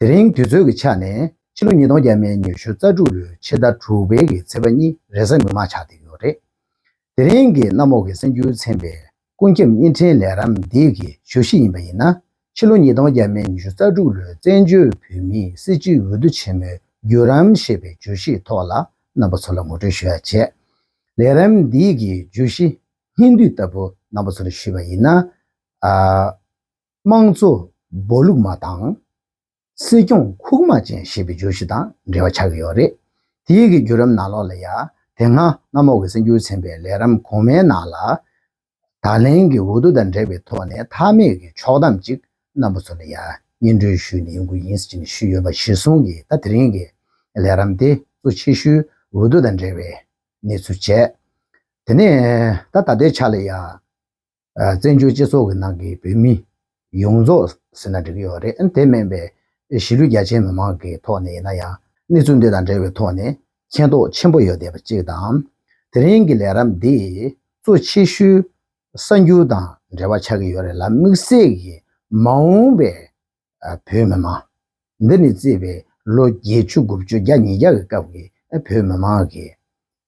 དེ་རིང་དུས་ཚོད་ཀྱི་ཆ་ནས་ཕྱི་ལོ་ཉིས་སྟོང་བརྒྱད་མའི་ཉི་ཤུ་རྩ་དྲུག་ལོའི་ཕྱི་ཟླ་དྲུག་པའི་གི་ཚེས་པ་གཉིས་རེས་གཟའ་ངོ་མ་ཆགས་བསྡད་ཡོད་རེད། དེ་རིང་གི་གནམ་འོག་གི་སེམས་འགྱུར་ཚན་པའི་ཀུན་ཁྱབ་བརྙན་འཕྲིན་ལས་རམ་འདེགས་ཀྱི་ཞུ་གཞི་ཡིན་པ་ཡིན་ན། ཕྱི་ལོ་ཉིས་སྟོང་བརྒྱད་མའི་ཉི་ཤུ་རྩ་དྲུག་ལོའི་བཙན་བྱོལ་བོད་མིའི་སྲིད་སྤྱིའི་འོས་བསྡུ་ཆེན་མོའི་བརྒྱུད་རམ་ཞེས་པའི་བརྗོད་གཞིའི་ཐོག་ལ་རྣམ་པ་ཚོ་ལ་ངོ་སྤྲོད་ཞུ་ཡ་བྱས། ལས་རམ་འདེགས་ཀྱི་བརྗོད་གཞི་སྙིང་བསྡུས་ལྟ་བུ་རྣམ་པ་ཚོ་ལ་ཞུས་པ་ཡིན་ན། དམངས་གཙོ་སྦོ་ལུག་མ་དང། སྲིད་སྐྱོང་ཁུག་མ་ཅན་ཞེས་པའི་བརྗོད་གཞི་དང་འབྲེལ་བ་ཆགས་ཀྱི་ཡོད་རེད། དེ་ཡི་གི་བརྒྱུད་རམ་ནང་ལོགས་ལ་ཡ། དེ་སྔ་གནམ་འོག་གི་སེམས་འགྱུར་ཚན་པའི་ལས་རམ་གོང་མའི་ནང་ལ། ད་ལན་གྱི་འོ་དོ་དང་འབྲེལ་བའི་ཐོག་ནས་མཐའ་མེད་ཀྱི་ཕྱོགས་གཏམ་ཅིག་གནམ་པོ་ཚོ་ལ་ཡ་སྙན་འགྲོས་ཞུས་ནས་ཡོང་གི་ཡིན་ཟེར་གྱི་ཞུས་ཡོད་པ་གཞིར་བཟུང་གིས་ད་དེ་རིང་གི་ལས་རམ་དེ་གཙོ་ཆེ་ཤོས་འོ་དོ་དང་འབྲེལ་བའི་གནས་ཚུལ་བྱས། དེ་ནས་ད་ད་ལྟའི་ཆ་ལ་ཡ། བཙན་བྱོལ་སྤྱི་ཚོགས་ཀྱི་ནང་གི་བོད་མི་ཡོངས་རྫོགས་ཟེར་ན་འགྲིག་གི་ཡོད་རེད་ཨང། དེ་མིན་པའི་གཞིས་ལུས་རྒྱ་ཆེའི་མི་མང་གི་ཐོག་ནས་ཡིན་ན་ཡང་གནས་ཚུལ་འདི་དང་འབྲེལ་བའི་ཐོག་ནས་མཁྱེན་རྟོགས་ཆེན་པོ་ཡོད་བསྡད་པ་གཅིག་དང། དེ་རིང་གི་ལས་རབས་འདིས་གཙོ་ཆེ་ཤོས་གསར་འགྱུར་དང་འབྲེལ་བ་ཆགས་ཀྱི་ཡོད་རེད་ལ་དམིགས་བསལ་གྱིས་མ་འོངས་པའི་བོད་མི་མང། འདི་ནས་བརྩིས་པའི་ལོ་བརྒྱད་ཅུ་དགུ་བཅུ་བརྒྱ་ཉིས་བརྒྱ་གི་སྐབས་ཀྱི་བོད་མི་མང་གི།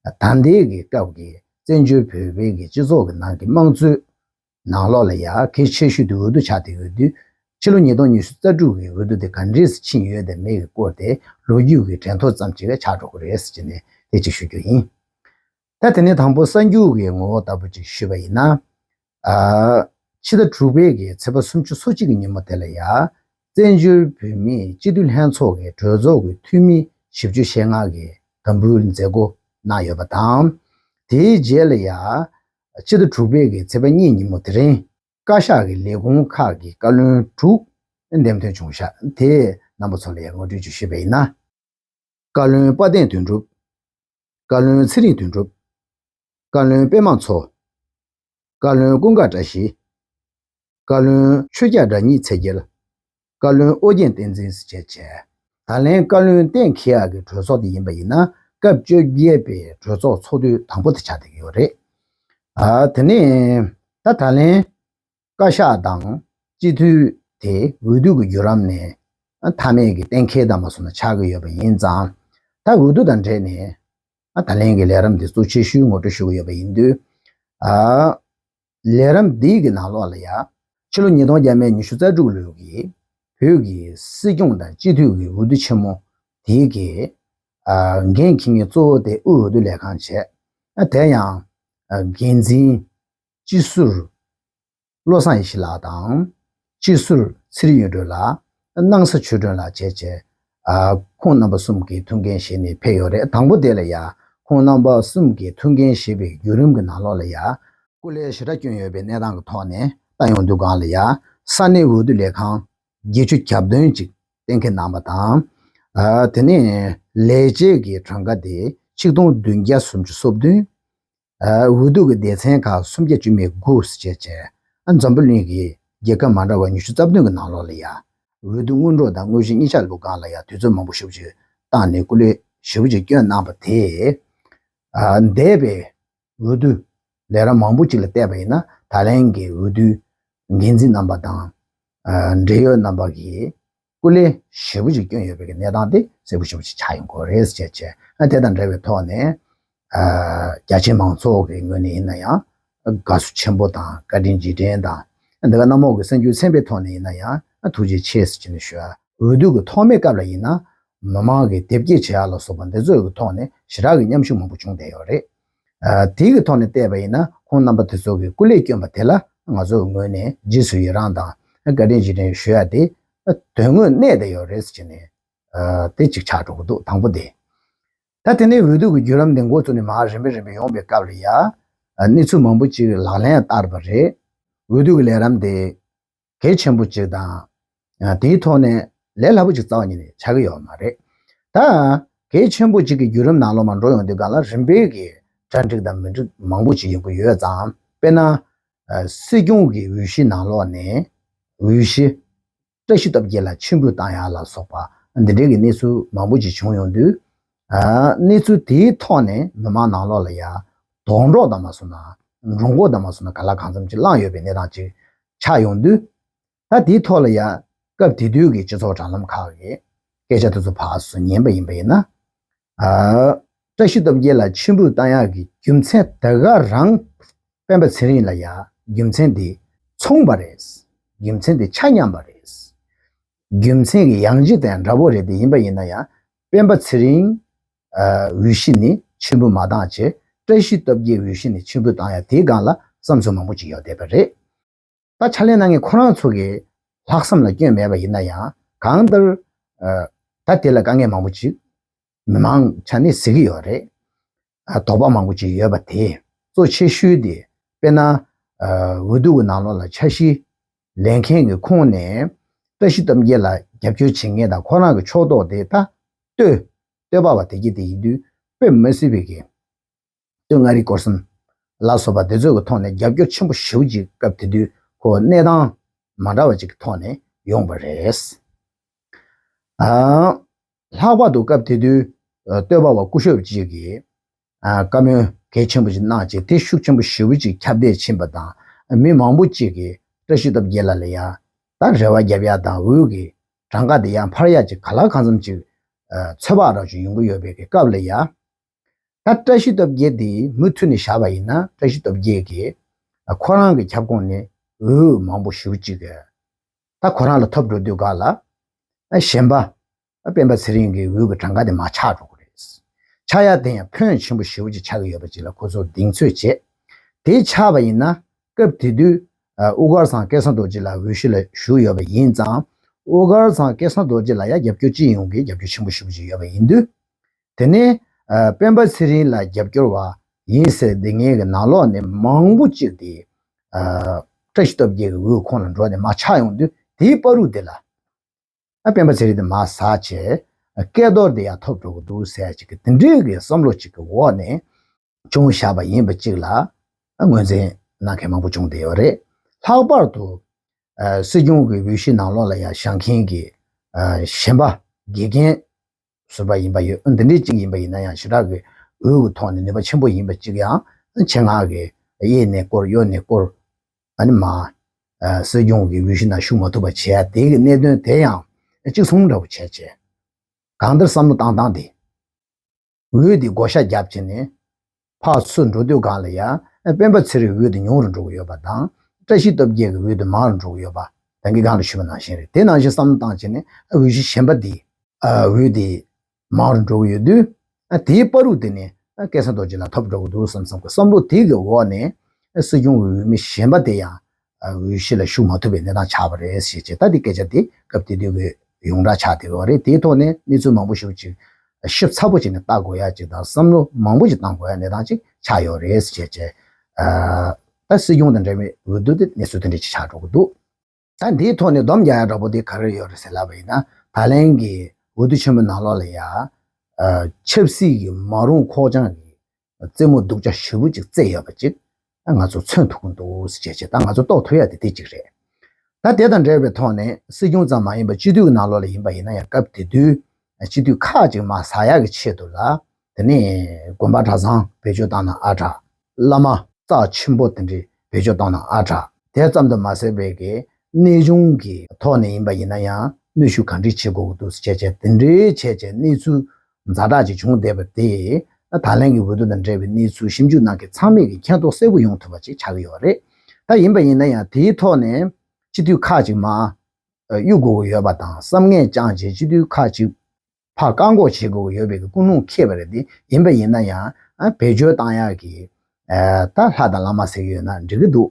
ད་ལྟའི་གི་སྐབས་ཀྱི་བཙན་བྱོལ་བོད་པའི་གི་སྤྱི་ཚོགས་ཀྱི་ནང་གི་དམངས་གཙོའི་ནང་ལོགས་ལ་ཡ་གི་ཆེ་ཤོས་དེ་འོས་བསྡུ་བྱ་དེ་འོས་བསྡུ། ཕྱི་ལོ་ཉིས་སྟོང་ཉི་ཤུ་རྩ་དྲུག་གི་འོས་བསྡུ་དེ་ག་འདྲས་སུ་ཕྱིན་ཡོད་དེ་མེད་ཀྱི་སྐོར་དེ་ལོ་རྒྱུས་ཀྱི་དྲན་ཐོ་ཙམ་ཅིག་ཆགས་འགྲོ་གི་རེད་ཟེར་གྱི་ནས་དེ་གཅིག་ཞུ་རྒྱུ་ཡིན། ད་དེ་ནས་དང་པོ་གསར་འགྱུར་བའི་ངོ་བོ་ལྟ་བུ་ཅིག་ཞུས་པ་ཡིན་ན། ཕྱི་ཟླ་དྲུག་པའི་གི་ཚེས་པ་སུམ་ཅུ་སོ་གཅིག་གི་ཉིན་མོ་དེ་ལ་ཡ། བཙན་བྱོལ་བོད་མིའི་སྤྱི་མཐུན་ལྷན་ཚོགས་ཀྱི་གྲོས་ཚོགས་ཀྱི་འཐུས་མི་བཞི་བཅུ་ཞེ་ལྔ་གི་དམ་འབུལ་མཛད་སྒོ་གནང་ཡོད་པ་དང། དེའི་རྗེས་ལ་ཡ། ཕྱི་ཟླ་དྲུག་པའི་གི་ཚེས་པ་གཉིས་ཉིན་མོ་དེ་རིང། བཀའ་ཤག་གི་ལས་ཁུངས་ཁག་གི་བཀའ་བློན་དྲུག་འདེམས་ཐོན་བྱུང་ཤག་དེའི་རྣམ་པ་ཚོ་ལ་ཡ་ངོ་སྤྲོད་ཅིག་ཞུས་པ་ཡིན་ན། བཀའ་བློན་དཔའ་གདེང་དོན་གྲུབ། བཀའ་བློན་ཚེ་རིང་དོན་གྲུབ། བཀའ་བློན་དཔལ་མང་འཚོ། བཀའ་བློན་ཀུན་དགའ་བཀྲ་ཤིས། བཀའ་བློན་ཆོས་རྒྱ་བཀྲ་ཉི་ཚེ་རྒྱལ། བཀའ་བློན་ཨོ་རྒྱན་བསྟན་འཛིན་བཞེས་བྱས། ད་ལན་བཀའ་བློན་གཏན་འཁེལ་ཡག་གི་གྲོས་ཚོགས་དེ་ཡིན་པ་ཡིན་ན་སྐབས་བཅོ་བརྒྱད་པའི་གྲོས་ཚོགས་ཚོགས་དུས་དང་པོ་དེ་ཆགས་བསྡད་ཀྱི་ཡོད་རེད། དེ་ནས་ད་ད་ལན་བཀའ་ཤག་དང་སྤྱི་འཐུས་དེ་འོས་བསྡུ་གི་བརྒྱུད་རམ་ནས་མཐའ་མེད་ཀྱི་གཏན་འཁེལ་དམ་པ་སོགས་ན་ཆགས་ཀྱི་ཡོད་པ་ཡིན་ཙང། ད་འོས་བསྡུ་དང་འབྲེལ་ནས་ད་ལན་གྱི་ལས་རམ་དེ་གཙོ་ཆེ་ཤོས་ངོ་སྤྲོད་ཞུ་གི་ཡོད་པ་ཡིན་དུས། ལས་རམ་འདི་གི་ནང་ལོགས་ལ་ཡ། ཕྱི་ལོ་ཉིས་སྟོང་བརྒྱད་མའི་ཉི་ཤུ་རྩ་དྲུག་ལོའི་གི་བོད་ཀྱི་སྲིད་སྐྱོང་དང་སྤྱི་འཐུས་ཀྱི་འོས་བསྡུ་ཆེན་མོ་དེ་གི་འགན་འཁྱེར་མཁན་གཙོ་བོ་དེ་དབུས་འོས་བསྡུ་ལས་ཁང་བྱས། དེ་ཡང་འགན་འཛིན། སྤྱི་ཟུར་བློ་བཟང་ཡེ་ཤེས་ལགས་དང། སྤྱི་ཟུར་ཚེ་རིང་གཡུ་སྒྲོན་ལགས། སྣང་ས་ཆོས་སྒྲོན་ལགས་བཅས་བཅས། ཁོང་རྣམ་པ་གསུམ་གྱིས་ཐུགས་འགན་བཞེས་ནས་ཕེབས་ཡོད་རེད་དང་པོ་དེ་ལ་ཡ། ཁོང་རྣམ་པ་གསུམ་གྱིས་ཐུགས་འགན་བཞེས་པའི་བརྒྱུད་རིམ་གྱི་ནང་ལོགས་ལ་ཡ། སྐུ་ལས་ཞི་དྲག་བསྐྱོན་ཡོད་པའི་གནས་སྟངས་ཀྱི་ཐོག་ནས་ཏང་ཡོངས་འདུ་ཁང་ལ་ཡ། ས་གནས་འོས་བསྡུ་ལས་ཁང། བརྒྱད་ཅུ་གྱ་བདུན་གཅིག་གཏན་འཁེལ་གནང་བ་དང། དེ་ནས་ལས་བྱེད་ཀྱི་གྲངས་ཀ་དེ་ཆིག་སྟོང་བདུན་བརྒྱ་སུམ་ཅུ་སོ་བདུན། འོས་བསྡུ་གྱི་སྡེ་ཚན་ཁག་སུམ་བརྒྱ་ཅུ་མེད་དགུ་བཅས་བྱས། འཛམ་བུ་གླིང་གི་རྒྱལ་ཁབ་མ་འདྲ་བ་ཉི་ཤུ་རྩ་བདུན་གྱི་ནང་ལོགས་ལ་ཡང། འོས་བསྡུ་སྔོན་འགྲོ་དང་དངོས་གཞི་གཉིས་ཆ་ལུགས་སྒང་ལ་ཡང་དུས་ཚོད་མང་པོ་ཞུ་བཅུ་བཏང་ནས་སྐུ་ལས་ཞུ་བཅུ་བསྐྱོན་གནང་བ་དེས། འདས་པའི་འོས་བསྡུ་ལས་ར་མང་པོ་ཅིག་ལ་བལྟས་པ་ཡིན་ན་ད་ལན་གྱི་འོས་བསྡུའི་འགན་འཛིན་རྣམ་པ་དང། འབྲེལ་ཡོད་རྣམ་པ་གྱིས། སྐུ་ལས་ཞེ་བོ་ཅིག་བསྐྱོན་ཡོད་པའི་གནས་སྟངས་དེ་གསལ་པོ་ཞེ་བོ་ཅིག་ཆགས་ཡོད་སྐོར་རེད་ཅེས་བཤད། དེ་དང་འབྲེལ་བའི་ཐོག་ནས། རྒྱ་ཆེའི་མང་ཚོགས་ཀྱི་ངོས་ནས་ཡིན་ན་ཡང། དགའ་བསུ་ཆེན་པོ་དང་བཀའ་དྲིན་རྗེས་དྲན་དང། འདི་ག་གནམ་འོག་གི་སེམས་འགྱུ་ཚན་པའི་ཐོག་ནས་ཡིན་ན་ཡང་ཐུགས་རྗེ་ཆེ་ཟེར་གྱིན་ཞུ། འོས་བསྡུ་གི་ཐོག་མའི་སྐབས་ལ་ཡིན་ན། མི་མང་གི་དེབ་སྐྱེལ་བྱེད་ཡག་ལ་སོགས་པ་འདི་ཚོའི་ཐོག་ནས་ཞི་དྲག་གི་མཉམ་ཞུགས་མང་པོ་བྱུང་བསྡད་ཡོད་རེད། དེ་གི་ཐོག་ནས་བལྟས་པ་ཡིན་ན་ཁོང་རྣམ་པ་དེ་ཚོ་གི་སྐུ་ལས་བསྐྱོན་པ་དེ་ལ་ང་ཚོ་གི་ངོས་ནས་རྗེས་སུ་ཡི་རངས་དང་བཀའ་དྲིན་རྗེས་དྲན་ཞུ་ཡ་དེ་དོན་དངོས་གནས་དེ་ཡོད་རེད་ཟེར་ནས་དེ་གཅིག་ཆགས་འགྲོ་གི་འདུག་དང་པོ་དེ། ད་དེ་ནས་འོས་བསྡུ་གི་བརྒྱུད་ལམ་དེ་འགོ་བཙུགས་ནས་མ་རིམ་པས་རིམ་པས་ཡོང་པའི་སྐབས་ལ་ཡ། གནས་ཚུལ་མང་པོ་ཅིག་ལག་ལེན་ཡང་བསྟར་བ་རེད། འོས་བསྡུ་གི་ལས་རམ་དེ། གལ་ཆེན་པོ་གཅིག་དང། དེའི་ཐོག་ནས་ལས་སླ་པོ་གཅིག་རྩ་བ་ཉིད་ནས་བྱ་གི་ཡོད་མ་རེད། ད་གལ་ཆེན་པོ་གཅིག་གི་བརྒྱུད་རིམ་ནང་ལོགས་མ་འགྲོ་ཡོང་དུས་ག་ལ་རིམ་སྤེལ་གྱི་གྲ་འགྲིག་དང་མི་འགྲིག་མང་པོ་ཅིག་ཡོང་གི་ཡོད་ཙང་དཔེར་ན། སྲིད་སྐྱོང་གི་འོས་གཞི་ནང་ལོགས་ནས་འོས་གཞི། བཀྲ་ཤིས་སྟོབས་རྒྱལ་ལ་ཕྱིར་འབུད་བཏང་ཡ་ལ་སོགས་པ་འདི་འདྲའི་གི་གནས་ཚུལ་མང་པོ་ཅིག་བྱུང་ཡོང་དུས། གནས་ཚུལ་དེའི་ཐོག་ནས་མི་མང་ནང་ལོགས་ལ་ཡ། དོགས་འདྲོགས་དང་མ་སོ་ན། འགྲོ་འགོག་དང་མ་སོ་ན་ག་ལ་གང་འཚམ་ཅིག་བསླངས་ཡོད་པའི་གནས་སྟངས་ཅིག་ཆགས་ཡོང་དུས། ད་དེའི་ཐོག་ལ་ཡ། སྐབས་དེ་དུས་ཀྱི་སྤྱི་ཚོགས་དྲ་ལམ་ཁག་གི་སྐད་ཆ་དེ་ཚོ་ཕག་སུ་ཉན་པ་ཡིན་པ་ཡིན་ན། བཀྲ་ཤིས་སྟོབས་རྒྱལ་ལ་མཆན་བུ་བཏང་ཡག་གི་རྒྱུ་མཚན་ད་ག་རང། སྤེན་པ་ཚེ་རིང་ལ་ཡ། རྒྱུ་མཚན་དེ། མཚུངས་པ་རེད། རྒྱུ་མཚན་དེ་ཆ་མཉམ་པ་རེད། རྒྱུ་མཚན་གྱི་ཡང་རྗེས་དེ་འདྲ་བོ་རེད་དེ་ཡིན་པ་ཡིན་ན་ཡ། སྤེན་པ་ཚེ་རིང། འོས་གཞི་ནི་ཆེན་པོ་མ་བཏང་ཅེས་བཀྲ་ཤིས་སྟོབས་རྒྱལ་འོས་གཞི་ནི་ཆེན་པོ་བཏང་ཡ་དེའི་སྒང་ལ་བསམ་ཚུལ་མང་པོ་ཅིག་ཡོད་བསྡད་པ་རེད། ད་ཆ་ལས་གནང་མཁན་ཁོ་རང་ཚོ་གི་ལྷག་བསམ་ལ་སྐྱོན་མེད་པ་ཡིན་ན་ཡང་གང་ལྟར། ད་དེ་ལ་དཀའ་ངལ་མང་པོ་ཅིག་མི་མང་ཆ་ནས་གཟིགས་ཀྱི་ཡོད་རེད། དོགས་པ་མང་པོ་བྱས་ཡོད་པ་དེ་གཙོ་ཆེ་ཤོས་དེ་དཔེར་ན། འོས་བསྡུ་བའི་ནང་ལོགས་ལ་འཆར་གཞི་ལེན་མཁན་གྱི་ཁོངས་ནས་བཀྲ་ཤིས་སྟོབས་རྒྱལ་ལ་རྒྱབ་སྐྱོར་བྱེད་མཁན་དང་ཁོ་རང་གི་ཕྱོགས་གཏོགས་དེ་ད་ལྟོས་བལྟོས་པ་བ་དེ་གྱི་དེ་ཡིན་དུས་བོད་མི་སེར་བས་གྱི་སྟོད་མངའ་རིས་སྐོར་གསུམ་ལ་སོགས་པ་དེ་ཚོས་གི་ཐོག་ནས་རྒྱབ་སྐྱོར་ཆེན་པོ་ཞུ་ཅིག་སྐབས་དེ་དུས་ཁོ་གནས་སྟངས་མ་འདྲ་བ་ཅིག་གི་ཐོག་ནས་ཡོང་པ་རེད། ལྷག་པར་དུ་སྐབས་དེ་དུས་སྟོད་པ་བ་སྐུ་ཞབས་གཅིག་གིས་བཀའ་མོལ་གལ་ཆེན་པོ་ཞིག་གནང་རྗེས་དེ་ཤུགས་ཆེན་པོ་ཞེ་བོ་གཅིག་ཁྱབ་བརྡལ་ཕྱིན་པ་དང་མི་མང་པོ་གཅིག་གིས་བཀྲ་ཤིས་སྟོབས་རྒྱལ་ལ་ལ་ཡག་དང་རེ་བ་བརྒྱབ་ཡག་དང་འུད་ཀྱི་གྲངས་ཀ་དེ་ཡང་འཕར་ཡག་ཅིག་ག་ལ་གང་འཚམ་ཅིག་ཚོད་དཔག་རག་ཆོག་ཡོང་གི་ཡོད་པས་གི་སྐབས་ལ་ཡག་ད་བཀྲ་ཤིས་སྟོབས་རྒྱལ་དེ་མུ་མཐུད་ནས་བཞག་པ་ཡིན་ན་བཀྲ་ཤིས་སྟོབས་རྒྱལ་གྱིས་ཁོ་རང་གི་ཁྱབ་ཁོངས་ནས་འུད་མང་པོ་ཞུ་གཅིག་ད་ཁོ་རང་ལ་ཐོབ་འགྲོ་དུས་འགག་ལ། གཞན་པ། སྤེན་པ་ཚེ་རིང་གི་འོས་ཀྱི་གྲངས་ཀ་དེ་མ་ཆག་འགྲོ་གི་རེད། ཆག་ཡག་དེ་ཡང་ཕོན་ཆེན་པོ་ཞེ་བོ་ཅིག་ཆག་གི་ཡོད་པ་ཅིག་ལ་ཁོ་ཚོར་གདེང་ཚོད་བྱས། དེ་ཆག་པ་ཡིན་ན། སྐབས་དེ་དུས། དབུ་དཀར་ཚང་སྐལ་བཟང་རྡོ་རྗེ་ལགས་འོས་གཞི་ལ་ཞུགས་ཡོད་པ་ཡིན་ཙང། དབུ་དཀར་ཚང་སྐལ་བཟང་རྡོ་རྗེ་ལ་ཡང་རྒྱབ་སྐྱོར་ཅི་ཡོང་གི་རྒྱབ་སྐྱོར་ཆེན་པོ་ཞུ་གི་ཡོད་པ་ཡིན་དུས། དེ་ནི་སྤེན་པ་ཚེ་རིང་ལ་རྒྱབ་སྐྱོར་བ་ཡིན་ཟེར་སྡུག་བསྔལ་གྱི་ནང་ལོག་ནས་མང་པོ་ཅིག་དེ་བཀྲ་ཤིས་སྟོབས་རྒྱལ་གྱི་འོས་ཁོང་ལ་འགྲོ་ནས་མ་ཆགས་ཡོང་དུས་དེའི་དཔའ་རུ་དེ་ལ་སྤེན་པ་ཚེ་རིང་དེ་མ་ཟ་བྱས་སྐལ་རྡོར་དེ་ཡང་ཐོབ་འགྲོ་གི་འདུག་ཟེར་ཅིག་དེ་འདྲའི་གི་བསམ་བློ་ཅིག་གི་འོག་ནས་ཅུང་བཞག་པ་ཡིན་པ་གཅིག་ལ་ངོས་འཛིན་གནང་མཁན་མང་པོ་བྱུང་བསྡད་ཡོད་རེད། ལྷག་པར་དུ། སྲིད་སྐྱོང་གི་འོས་གཞི་ནང་ལོགས་ལ་ཡང་བཞག་མཁན་གྱི་གཞན་པ་དགེ་རྒན་ཟུར་པ་ཡིན་པ་ཡོད་འདི་འདྲའི་གཅིག་ཡིན་པ་ཡིན་ན་ཡང་ཞུ་དག་གི་འོས་ཀྱི་ཐོག་ནས་ནུས་པ་ཆེན་པོ་ཡིན་པ་གཅིག་ཡང་ཆེད་མངགས་གི་གཡས་ནས་བསྐོར་གཡོན་ནས་བསྐོར་ཨ་མ་སྲིད་སྐྱོང་གི་འོས་གཞི་ནང་ཞུགས་མ་ཐུབ་པ་བྱས་ཡ་དེ་གི་གནད་དོན་དེ་ཡང་གཅིག་མཚུངས་འདྲ་པོ་བྱས་རྗེས་གང་ལྟར་བསམ་བློ་བཏང་བཏང་སྟེ། འོད་དེ་བགོ་བཤའ་རྒྱབ་བྱས་ནས། ཕག་མཚོ་འགྲོ་དུས་གངས་ལ་ཡལ། སྤེན་པ་ཚེ་རིང་འོད་དེ་ཉུང་རུ་འགྲོ་གི་ཡོད་པ་དང། བཀྲ་ཤིས་སྟོབས་རྒྱལ་གྱི་འོད་དེ་མང་རུ་འགྲོ་གི་ཡོད་པ། རང་གིས་གང་ལ་ཞུས་པ་ནང་བཞིན་རེད་དེ་ནང་བཞིན་བསམ་བློ་བཏང་བྱས་ནས་འོད་གཞི་གཞན་པ་དེའི། འོད་དེ་མང་རུ་འགྲོ་གི་ཡོད་དུས། དེའི་དཔའ་རུ་དེ་ནི་སྐལ་བཟང་རྡོ་རྗེ་ལ་ཐོབ་འགྲོ་གི་འདུག་བསམ་བསམ་གྱི་བསམ་བློ་དེ་གི་འོག་ནས། སྲིད་སྐྱོང་འོས་མི་གཞན་པ་དེ་ཡང་འོས་གཞི་ལ་ཞུགས་མ་ཐུབ་པའི་གནས་སྟངས་ཆགས་པ་རེད་ཟེར་ཅེས་ད་ལྟའི་སྐད་ཆ་དེ་སྐབས་དེ་དུས་ཀྱི་ཡོངས་གྲགས་ཆགས་བསྡད་པ་རེད་དེའི་ཐོག་ནས་གནས་ཚུལ་མང་པོ་ཞིག་ཅིག་ཞིབ་ཚགས་པོ་བྱས་ནས་བལྟ་དགོས་ཡ་ཅིག་དང་བསམ་བློ་མང་པོ་ཞིག་བཏང་དགོས་ཡ་གནས་སྟངས་ཅིག་ཆགས་ཡོད་རེད་ཟེར་ཅེས་བཤད། ད་སྲིད་སྐྱོང་དང་འབྲེལ་བའི་འོས་བསྡུ་དེ་གནས་ཚུལ་དོན་འགྲེལ་ཅིག་ཆགས་འགྲོ་གི་འདུག། ད་འདིའི་ཐོག་ནས་བསྡོམས་རྒྱག་ཡག་འདྲ་པོ་དེ་ག་རེ་ཡོད་རེད་ཟེར་ལབ་པ་ཡིན་ན་ད་ལན་གྱི་འོས་བསྡུ་ཆེན་མོའི་ནང་ལོགས་ལ་ཡང། ཆབ་སྲིད་ཀྱི་མ་རུང་ཁོག་བཅངས་རེད། རྩེད་མོ་སྡུག་ཅག་ཞེ་བོ་ཅིག་རྩེས་ཡོད་པ་ཅིག་ང་ཚོ་མཚོན་ཐུབ་ཀྱི་འདུག་ཟེར་བྱས་ད་ང་ཚོ་རྟོགས་ཐུབ་ཡ་དེ་དེ་ཅིག་རེད། ད་དེ་དང་འབྲེལ་བའི་ཐོག་ནས་སྲིད་སྐྱོང་ཙམ་མ་ཡིན་པ་སྤྱི་འཐུས་ཀྱི་ནང་ལོགས་ལ་ཡིན་པ་ཡིན་ན་ཡང་སྐབས་དེ་དུས་སྤྱི་འཐུས་ཁག་ཅིག་མ་ཟ་ཡག་གི་ཆེད་དུ་ལ་དེ་ནས་དགོན་པ་གྲྭ་ཚང་བེད་སྤྱོད་བཏང་ན་ཨ་དྲག། བླ་མ་རྩ་ཆེན་པོ་དེ་འདྲི་བེད་སྤྱོད་བཏང་ན་ཨ་དྲག། དེ་ཙམ་དུ་མ་ཟད་བོད་ཀྱི་གནས་གཞུང་གི་ཐོག་ནས་ཡིན་པ་ཡིན་ན་ཡང་གནོད་ཤུགས་གང་འདྲི་བྱེད་དགོས་ཀྱི་འདུག་ཟེར་བྱས་བྱས་དེ་འདྲི་བྱས་བྱས་གནས་ཚུལ་མཛའ་གྲགས་ཅིག་བྱུང་བསྡད་པ་དེས་ད་ད་ལན་གྱི་འོས་བསྡུ་དང་འབྲེལ་བའི་གནས་ཚུལ་ཞིབ་འཇུག་གནང་མཁན་ཚང་མས་ཀྱི་མཁྱེན་རྟོགས་གསལ་པོ་ཡོང་ཐུབ་པ་ཅིག་ཆགས་ཀྱི་ཡོད་རེད་ད། ཡིན་པ་ཡིན་ན་ཡང་དེའི་ཐོག་ནས་སྤྱི་འཐུས་ཁག་ཅིག་མ་གཡུག་དགོས་ཀྱི་ཡོད་པ་དང་བསམ་ངན་བཅངས་རྗེས་སྤྱི་འཐུས་ཁག་ཅིག་ཕ་བཀག་འགོག་བྱེད་དགོས་ཀྱི་ཡོད་པའི་ཀུན་སློང་ཁེལ་བ་རེད་དེ་ཡིན་པ་ཡིན་ན་ཡང་བེད་སྤྱོད་བཏང་ཡག་གི་ད་ལྷ་དང་བླ་མ་ཟེར་གྱི་ཡོད་ན་འགྲིག་གི་འདུག་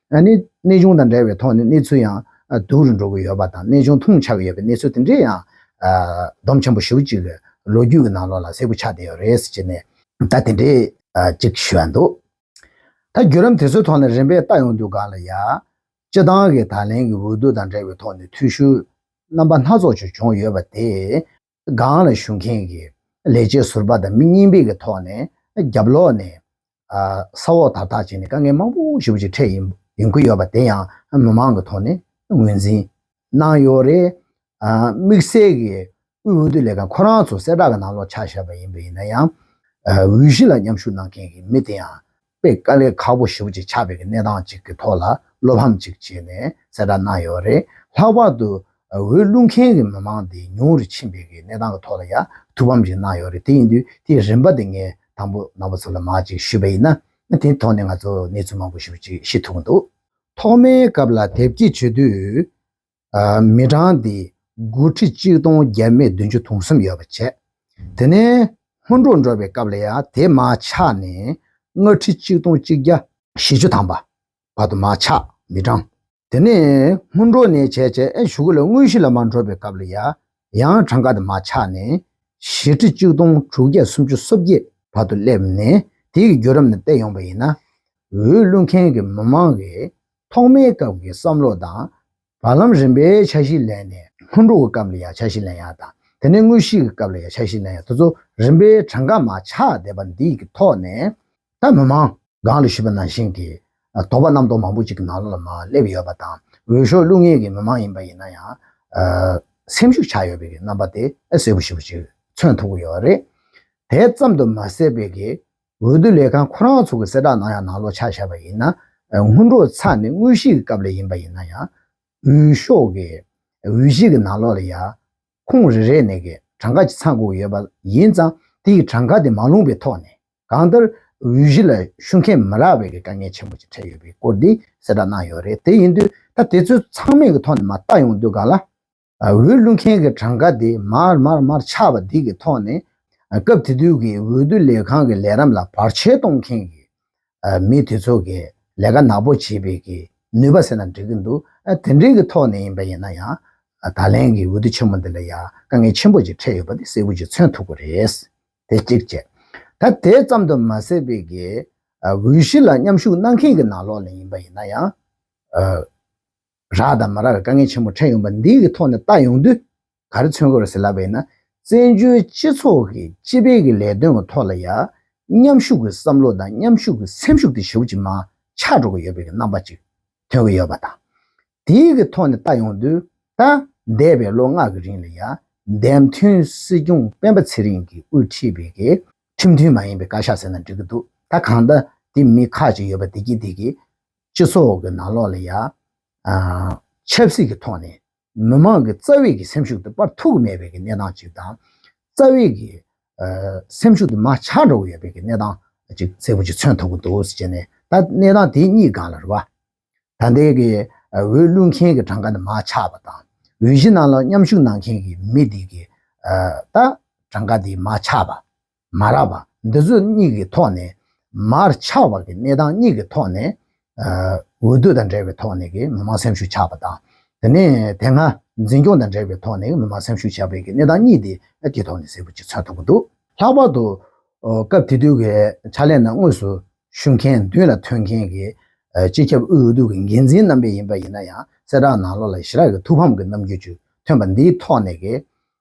གནས་ཆུང་དང་འདྲ་བའི་ཐོག་ནས་གནས་ཚུལ་ཡང་སྡུག་རུ་འགྲོ་གི་ཡོད་པ་དང་གནས་ཆུང་ཐུང་ཆགས་ཡོད་པའི་གནས་ཚུལ་དེ་འདྲས་ཡང་བསྡོམས་ཆེན་པོ་བཞི་བོ་གཅིག་གི་ལོ་རྒྱུས་ཀྱི་ནང་ལོགས་ལ་གསལ་པོ་ཆགས་བསྡད་ཡོད་རེད་ཟེར་གྱི་ནས་ད་དེ་འདྲས་གཅིག་ཞུས་ཡ་འདུག་ད་བརྒྱུད་ལམ་དེ་ཚོའི་ཐོག་ནས་རིམ་པས་ལྟ་ཡོང་དུས་ག་ལ་ཡ། སྤྱི་བཏང་གི་ད་ལན་གྱི་འོས་བསྡུ་དང་འབྲེལ་བའི་ཐོག་ནས་འཐུས་ཤོར་རྣམ་པ་སྣ་ཚོགས་ཅིག་བྱུང་ཡོད་པ་དེས། སྒང་ལ་བཞུགས་མཁན་གྱི་ལས་བྱེད་ཟུར་པ་དང་མི་གཉིས་འབེལ་གྱི་ཐོག་ནས་རྒྱབ་ལོག་ནས་ས་འོག་དར་ཐག་བཅད་ནས་དཀའ་ངལ་མང་པོ་ཞུ་བ་ཞིག་འཕྲད་ཡོང་གི་ཡོད་པ་དེ་ཡང་མི་མང་གི་ཐོག་ནས་ངོས་འཛིན་གནང་ཡོད་རེད། དམིགས་བསལ་གྱི་དབུས་འོས་བསྡུ་ལས་ཁང་ཁོ་རང་ཚོ་གསལ་བསྒྲགས་ཀྱི་ནང་ལོག་ཆ་བཞག་པ་ཡིན་པ་ཡིན་ན་ཡང་འོས་གཞི་ལ་མཉམ་ཞུགས་གནང་མཁན་གྱི་མི་དེ་ཡང་པའི་དཀའ་ལས་ཁག་པོ་ཞུགས་ཅིག་ཆགས་པའི་གནས་སྟངས་གཅིག་གི་ཐོག་ལ་བློ་ཕམ་ཅིག་བྱས་ནས་གསལ་བསྒྲགས་གནང་ཡོད་པ་རེད། ལྷག་པར་དུ། འོས་བླུགས་མཁན་གྱི་མི་མང་དེ་ཉུང་རུ་ཕྱིན་པའི་གནས་སྟངས་ཀྱི་ཐོག་ལ་ཡང་ཐུགས་ཕམ་ཅིག་གནང་ཡོད་རེད། དེ་ཡིན་དུས་དེའི་རིམ་པ་དེ་ངས་དང་པོ་ནང་པ་ཚོ་ལ་མང་ཅིག་ཞུས་པ་ཡིན་ན། དེའི་ཐོག་ནས་ང་ཚོ་གནས་ཚུལ་མང་པོ་ཞུ་ཅིག་ཤེས་ཐུབ་ཀྱི་འདུག། ཐོག་མའི་སྐབས་ལ་དེབ་སྐྱེལ་བྱེད་དུས། མི་གྲངས་དེ་དགུ་ཁྲི་གཅིག་སྟོང་བརྒྱད་སྨད་བདུན་ཅུ་དུང་གསུམ་ཡོད་པར་བྱས། དེ་ནས་སྔོན་འགྲོ་འགྲོ་བའི་སྐབས་ལ་ཡང་དེ་མ་ཆགས་ནས་ལྔ་ཁྲི་གཅིག་སྟོང་གཅིག་བརྒྱ། བཞི་ཅུ་ཐམ་པ་བར་དུ་མ་ཆགས་མི་གྲངས། དེ་ནས་སྔོན་འགྲོ་ནས་བྱས་བྱས་བཞུགས་སྐུ་ལ་དངོས་གཞི་ལ་མ་འགྲོ་བའི་སྐབས་ལ་ཡང་ཡང་གྲངས་ཀ་དེ་མ་ཆགས་ནས་བཞི་ཁྲི་གཅིག་སྟོང་དྲུག་བརྒྱ་སུམ་ཅུ་སོ་བརྒྱད་བར་དུ་སླེབས་ནས་དེ་ཡི་རྒྱུད་རབས་ནས་བལྟས་ཡོང་བ་ཡིན་ན། འོས་བླུགས་མཁན་གྱི་མི་མང་གིས་ཐོག་མའི་སྐབས་ཀྱི་བསམ་བློ་དང། བར་ལམ་རིམ་པའི་འཆར་གཞི་ལས་ནས་སྔོན་འགྲོ་གི་སྐབས་ལ་ཡང་འཆར་གཞི་ལེན་ཡག་དང་དེ་ནས་དངོས་གཞིའི་སྐབས་ལ་ཡང་འཆར་གཞི་ལེན་ཡག་དེ་ཚོ་རིམ་པའི་གྲངས་ཀ་མ་ཆགས་བསྡད་པ་འདི་ཀྱི་ཐོག་ནས། ད་མི་མང། སྒང་ལ་ཞུས་པ་ནང་བཞིན་གྱི་དོགས་པ་རྣམ་རྟོག་མང་པོ་ཅིག་ནང་ལོགས་ལ་མ་སླེབས་ཡོད་པ་དང་འོས་ཤོག་བླུག་ངེས་ཀྱི་མི་མང་ཡིན་པ་ཡིན་ན་ཡང། སེམས་ཤུགས་ཆགས་ཡོད་པའི་རྣམ་པ་དེ་གསལ་པོ་ཞིག་མཚོན་ཐུབ་ཀྱི་ཡོད་རེད། དེ་ཙམ་དུ་མ་ཟད་པའི་འོས་བསྡུ་ལས་ཁང་ཁོ་རང་ཚོ་གི་གསལ་བསྒྲགས་ནང་ཡང་ནང་ལོག་ཆགས་བཞག་པ་ཡིན་ན། སྔོན་འགྲོ་ཚར་ནས་དངོས་གཞིའི་སྐབས་ལ་ཡིན་པ་ཡིན་ན་ཡང། འོས་ཤོག་གི་འོས་གཞི་གི་ནང་ལོག་ལ་ཡང། ཁུངས་རེ་རེ་ནས་ཀྱི་གྲངས་ཀ་ཅིག་ཚང་དགོས་ཡོད་པ་ཡིན་ཙང་དེ་ཡི་གྲངས་ཀ་དེ་མ་ལོངས་པའི་ཐོག་ནས་གང་ལྟར་འོས་གཞི་ལ་ཞུགས་མཁན་མི་རག་པའི་ཀྱི་དཀའ་ངལ་ཆེན་པོ་ཅིག་འཕྲད་ཡོད་པའི་སྐོར་འདི་གསལ་བསྒྲགས་གནང་ཡོད་རེད་དེ་ཡིན་དུས་ད་དེ་ཚོའི་ཚང་མས་ཀྱི་ཐོག་ནས་མ་བལྟ་ཡོང་དུས་ག་ལ། འོད་བླུ་མཁན་གྱི་གྲངས་ཀ་དེ་མར་མར་མར་ཆག་པ་འདི་གི་ཐོག་ནས། སྐབས་དེ་དུས་ཀྱི་འོས་བསྡུ་ལས་ཁང་གི་ལས་རམས་ལ་བར་ཆད་གཏོང་མཁན་གྱི་མི་དེ་ཚོ་གི་ལས་ཀ་ནག་པོ་བྱེད་པའི་གི་ནུས་པ་ཟེར་ན་འགྲིག་གི་འདུག་དེ་འདྲའི་གི་ཐོག་ནས་ཡིན་པ་ཡིན་ན་ཡང། ད་ལན་གྱི་འོས་བསྡུ་ཆེན་མོ་འདི་ལ་ཡང་དཀའ་ངལ་ཆེན་པོ་ཅིག་འཕྲད་ཡོད་པ་དེ་གསལ་བོ་ཅིག་མཚོན་ཐུབ་གི་རེད། དེ་གཅིག་བཅས། ད་དེ་ཙམ་དུ་མ་ཟད་པའི་གི་འོས་གཞི་ལ་མཉམ་ཞུགས་གནང་མཁན་གྱི་ནང་ལོགས་ལས་ཡིན་པ་ཡིན་ན་ཡང། རགས་དང་མ་རགས་ཀྱི་དཀའ་ངལ་ཆེན་པོ་འཕྲད་ཡོང་པ་འདི་ཡི་ཐོག་ནས་བལྟ་ཡོང་དུས་ག་རེ་མཚོན་དགོས་རེད་ཟེར་ལབ་པ་ཡིན་ན། བཙན་བྱོལ་སྤྱི་ཚོགས་ཀྱི་སྤྱི་དཔལ་གྱི་ལས་དོན་གྱི་ཐོག་ལ་ཡང་མཉམ་ཞུགས་ཀྱི་བསམ་བློ་དང་མཉམ་ཞུགས་ཀྱི་སེམས་ཤུགས་དེ་ཞུགས་ཅིག་མ་ཆགས་འགྲོ་གི་ཡོད་པའི་རྣམ་པ་ཅིག་ཐོན་གྱི་ཡོད་པ་དང། དེ་ཡི་གི་ཐོག་ནས་བལྟ་ཡོང་དུས་ད་འདས་པའི་ལོ་ལྔ་གི་རིང་ལ་ཡང་འདས་མཐུན་སྲིད་སྐྱོང་སྤེན་པ་ཚེ་རིང་གིས་དབུས་ཁྲིད་པའི་གི་ཁྲིམས་མཐུན་མ་ཡིན་པའི་བཀའ་ཤག་ཟེར་ན་འགྲིག་གི་འདུག་ད་གང་ལྟ་དེ་མི་ཁག་ཅིག་ཡོད་པ་བདེ་སྐྱིད་འདི་གིས་སྤྱི་ཚོགས་ཀྱི་ནང་ལོགས་ལ་ཡང། ཆབ་སྲིད་ཀྱི་ཐོག་ནས་མི་མང་གི་རྩ་བའི་གི་སེམས་ཤུགས་དེ་སྤར་ཐུབ་ཀྱི་མེད་པའི་གི་གནས་སྟངས་ཅིག་དང། རྩ་བའི་གི། སེམས་ཤུགས་དེ་མ་ཆགས་འགྲོ་གི་ཡོད་པའི་གི་གནས་སྟངས་ཅིག་གསལ་པོ་ཅིག་མཚོན་ཐུབ་ཀྱི་འདུག་ཟེར་ནས་ད་གནས་སྟངས་དེ་གཉིས་སྒང་ལ་རེ་བ། ད་ལྟའི་གི་འོས་བླུག་མཁན་གྱི་གྲངས་ཀ་དེ་མ་ཆགས་པ་དང། འོས་གཞི་ནང་ལ་མཉམ་ཞུགས་གནང་མཁན་གྱི་མི་དེ་གི། ད་གྲངས་ཀ་དེ་མ་ཆགས་པ། མ་རག་པ་འདི་ཚོ་གཉིས་ཀྱི་ཐོག་ནས། མར་ཆགས་པ་ཀྱི་གནས་སྟངས་གཉིས་ཀྱི་ཐོག་ནས། འོས་བསྡུ་དང་འབྲེལ་བའི་ཐོག་ནས་ཀྱི་མི་མང་སེམས་ཤུགས་ཆགས་པ་དང། དེ་ནས་དེ་སྔ་འཛིན་སྐྱོང་དང་འབྲེལ་བའི་ཐོག་ནས་མི་མང་སེམས་ཤུགས་ཆགས་པའི་ཀྱི་གནས་སྟངས་གཉིས་དེ་ཀྱི་ཐོག་ནས་གཟིགས་པོ་གཅིག་མཚོན་ཐུབ་ཀྱི་འདུག། ལྷག་པར་དུ། སྐབས་དེ་དུས་ཀྱི་ཕྱག་ལས་ནང་དངོས་སུ་ཞུགས་མཁན་མདུན་ལ་ཐོན་མཁན་གྱི་སྤྱི་ཁྱབ་དབུས་འོས་བསྡུ་ཀྱི་འགན་འཛིན་རྣམ་པས་ཡིན་པ་ཡིན་ན་ཡང་གསལ་བསྒྲགས་ནང་ལོ་ལ་ཞི་རགས་ཀྱི་ཐུགས་ཕམ་གྱི་རྣམ་འགྱུར་ཅིག་ཐོན་པ་འདིའི་ཐོག་ནས་ཀྱི།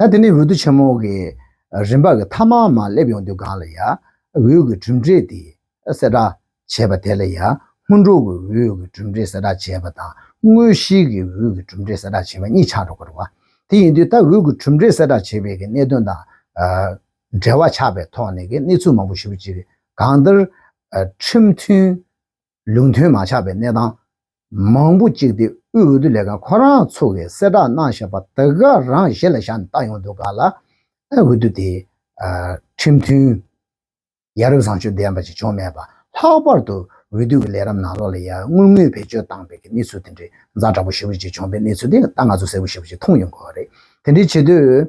ད་དེ་ནས་འོད་དུ་ཆེན་མོ་གི་རིམ་པ་གི་ཐ་མ་མ་སླེབ་ཡོང་དུས་གང་ལ་ཡ་འོད་ཀྱི་གྲུབ་འབྲས་དེ་གསལ་བསྒྲགས་བྱས་པ་དེ་ལ་ཡ་སྔོན་འགྲོ་གི་འོད་ཀྱི་གྲུབ་འབྲས་གསལ་བསྒྲགས་བྱས་པ་དང་དངོས་གཞིའི་གི་འོད་ཀྱི་གྲུབ་འབྲས་གསལ་བསྒྲགས་བྱས་པ་གཉིས་ཆགས་འགྲོ་གར་བ། དེ་ཡིན་དུས་ད་འོད་ཀྱི་གྲུབ་འབྲས་གསལ་བསྒྲགས་བྱས་པའི་གི་གནད་དོན་དང་འབྲེལ་བ་ཆགས་པའི་ཐོག་ནས་གི་གནས་ཚུལ་མང་པོ་ཞིབ་ཅིག་གང་ལྟར་ཁྲིམས་མཐུན་ལུགས་མཐུན་མ་ཆགས་པའི་གནས་སྟངས་མང་པོ་གཅིག་སྟེ་དབུས་འོས་བསྡུ་ལས་ཁང་ཁོ་རང་ཚོ་གིས་གསལ་བསྒྲགས་གནང་བཞིན་པ་དེ་ག་རང་གཞི་ལ་བཞག་ནས་བཏང་ཡོང་དུས་ག་ལ་འོས་བསྡུ་དེ་ཁྲིམས་མཐུན་ཡ་རབས་བཟང་སྤྱོད་ལྡན་པ་ཞིག་བྱུང་མེད་པ་ལྷག་པར་དུ་འོས་བསྡུ་གི་ལས་རབས་ནང་ལོགས་ལ་ཡ་ངུས་ངུས་བེད་སྤྱོད་བཏང་པའི་གནས་ཚུལ་དེ་འདྲའི་རྫ་འདྲ་པོ་ཞིག་བྱུང་པའི་གནས་ཚུལ་དེ་ད་ང་ཚོ་གསལ་པོ་ཞིག་བྱུང་ཡོང་གི་རེད་དེ་འདྲའི་བྱེད་དུས།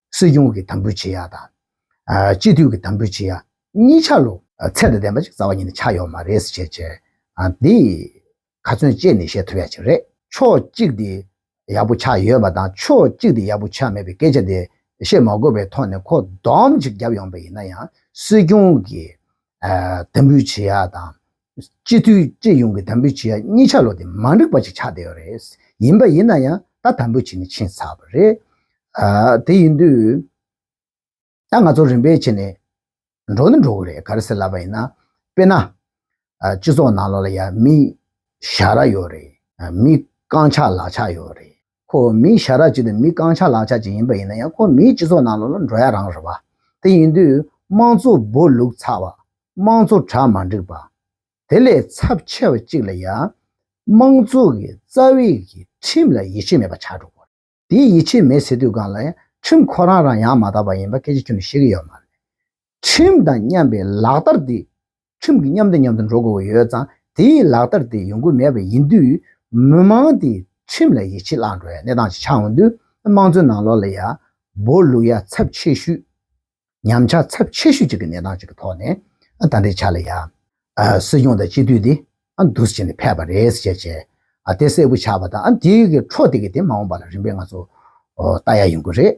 སྲིད་སྐྱོང་གི་དམ་འབུལ་བྱེད་ཡག་དང། སྤྱི་འཐུས་ཀྱི་དམ་འབུལ་བྱེད་ཡག་གཉིས་ཆ་ལོ། ཚད་དང་ལྡན་པ་ཅིག་རྩ་བ་ཉིད་ནས་ཆགས་ཡོད་མ་རེད་ཟེར་བྱས་བྱས། འདི། ག་ཚོན་བཅད་ནས་བཤད་ཐུབ་ཡག་ཅིག་རེད། ཕྱོགས་གཅིག་དེ། ཡག་པོ་ཆགས་ཡོད་པ་དང་ཕྱོགས་གཅིག་དེ་ཡག་པོ་ཆགས་མེད་པའི་སྐད་ཆ་དེ། བཤད་མ་དགོས་པའི་ཐོག་ནས་ཁོ་བསྡོམས་ཅིག་བརྒྱབ་ཡོང་པ་ཡིན་ན་ཡང་སྲིད་སྐྱོང་གི། དམ་འབུལ་བྱེད་ཡག་དང། སྤྱི་འཐུས་སྤྱི་ཡོངས་ཀྱི་དམ་འབུལ་བྱེད་ཡ་གཉིས་ཆ་ལོག་སྟེ་མ་འགྲིག་པ་ཅིག་ཆགས་བསྡད་ཡོད་རེད། ཡིན་པ་ཡིན་ན་ཡང་ད་དམ་འབུལ་བྱེད་ནི་ཆིན་ཚར་བ་རེད། དེ་ཡིན་དུས་ད་ང་ཚོ་རིམ་པས་ཕྱེ་ནས་འགྲོ་ནི་འགྲོ་གི་རེད་ག་རེ་ཟེར་ལབ་པ་ཡིན་ན། དཔེར་ན། སྤྱི་ཚོགས་ནང་ལོགས་ལ་ཡ་མི་ཞྭ་ར་ཡོད་རེད། མི་རྐང་ཆག་ལག་ཆག་ཡོད་རེད། ཁོ་བོ་མིའི་ཞྭ་རགས་ཅིག་དང་མིའི་རྐང་ཆག་ལག་ཆག་ཅིག་ཡིན་པ་ཡིན་ན་ཡང་ཁོ་བོ་མིའི་སྤྱི་ཚོགས་ནང་ལ་འགྲོ་ཡ་རང་རེད་པ། དེ་ཡིན་དུས་དམངས་གཙོ་སྦོ་ལུག་ཚགས་པ། དམངས་གཙོ་གྲ་མ་འགྲིག་པ། དེ་ལས་ཚབས་ཆེ་བ་ཅིག་ལ་ཡང། དམངས་གཙོ་གི་རྩ་བའི་གི་ཁྲིམས་ལ་ཡིད་ཆེས་མེད་པ་ཆགས་འགྲོ་དགོས། དེ་ཡིད་ཆེས་མེད་ཟེར་དུས་གང་ལ་ཡང་ཁྲིམས་ཁོ་རང་རང་ཡང་མ་དག་པ་ཡིན་པ་སྐད་ཆ་ཁྱོད་ནས་ཤེས་གི་ཡོད་མ་རེད། ཁྲིམས་དང་མཉམ་པའི་ལག་བསྟར་འདི་ཁྲིམས་ཀྱི་མཉམ་འདྲེས་མཉམ་དུ་འགྲོ་དགོས་པ་ཡོད་ཙང་དེའི་ལག་བསྟར་དེ་ཡོང་གི་མེད་པ་ཡིན་དུས། མི་མང་དེས་ཁྲིམས་ལ་ཡིད་ཆེས་བརླག་འགྲོ་བའི་གནས་སྟངས་ཤིག་ཆགས་འོང་དུས། དམངས་གཙོའི་ནང་ལོགས་ལ་ཡ། སྦོ། ལུག་ཡ་ཚབས་ཆེ་ཤོས། ཉམས་ཆག་ཚབས་ཆེ་ཤོས་ཅིག་གི་གནས་སྟངས་ཅིག་གི་ཐོག་ནས་ད་འབྲེལ་ཆ་ལ་ཡ། སྲིད་སྐྱོང་དང་སྤྱི་འཐུས་དེ་འདུ་ཟེར་བྱས་ནས་ཕེབས་པ་རེད་ཟེར་བྱས། དེ་གསལ་པོ་ཆགས་པ་དང་དེའི་འཕྲོ་དེ་གས་དེ་མ་འོངས་པ་ལ་རིམ་པས་ང་ཚོ་ལྟ་ཡ་ཡོང་གི་རེད།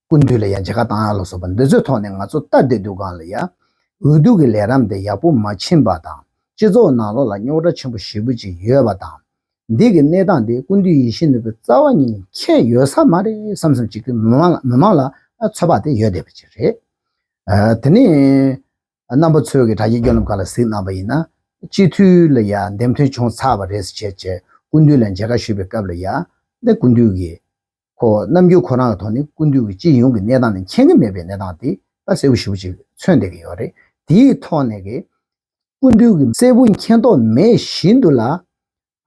ཀུན་འདུས་ལ་ཡང་འཇལ་ཁ་བཏང་ཡག་ལ་སོགས་པ་འདི་ཚོའི་ཐོག་ནས་ང་ཚོ་ལྟ་བདེ་སྡུག་གང་ལ་ཡ། འུ་སྡུག་གི་ལས་རམ་དེ་ཡག་པོ་མ་ཕྱིན་པ་དང་སྤྱི་ཚོགས་ནང་བློ་ལ་རྙོག་དྲ་ཆེན་པོ་ཞེ་བུ་ཅིག་ཡོད་པ་དང། འདི་གི་གནས་སྟངས་དེ་ཀུན་འདུས་ཡིད་བཞིན་ནོར་བུའི་རྩ་བ་ཉིད་ནས་ཁྱད་ཡོད་ས་མ་རེད་བསམ་བསམ་ཅིག་གིས་མི་མང་ལ་ཚོད་དཔག་དེ་ཡོད་བསྡད་པ་ཅིག་རེད། དེ་ནས་རྣམ་པ་ཚོས་གི་དྲ་རྒྱའི་སྐྱོན་ལམ་ག་ལ་གཟིགས་གནང་བ་ཡིན་ན། སྤྱི་འཐུས་ལ་ཡ་འདེམས་ཐོན་བྱུང་ཚར་བ་རེད་ཟེར་བྱས་བྱས་ཀུན་འདུས་ལ་འཇལ་ཁ་ཞུས་པའི་སྐབས་ལ་ཡ། ཀུན་འདུས་ཀྱིས། ཁོ་རྣམ་རྒྱུན་ཁོ་རང་གི་ཐོག་ནས་ཀུན་འདུས་ཀྱི་སྤྱི་ཡོངས་ཀྱི་གནས་སྟངས་ནི་མཁྱེན་གྱི་མེད་པའི་གནས་སྟངས་དེ་ད་གསལ་བོ་ཞིབ་བོ་ཅིག་མཚོན་བསྡད་ཀྱི་ཡོད་རེད། དེའི་ཐོག་ནས། ཀུན་འདུས་ཀྱི་གསལ་བོ་མཁྱེན་རྟོགས་མེད་བཞིན་དུ་ལ།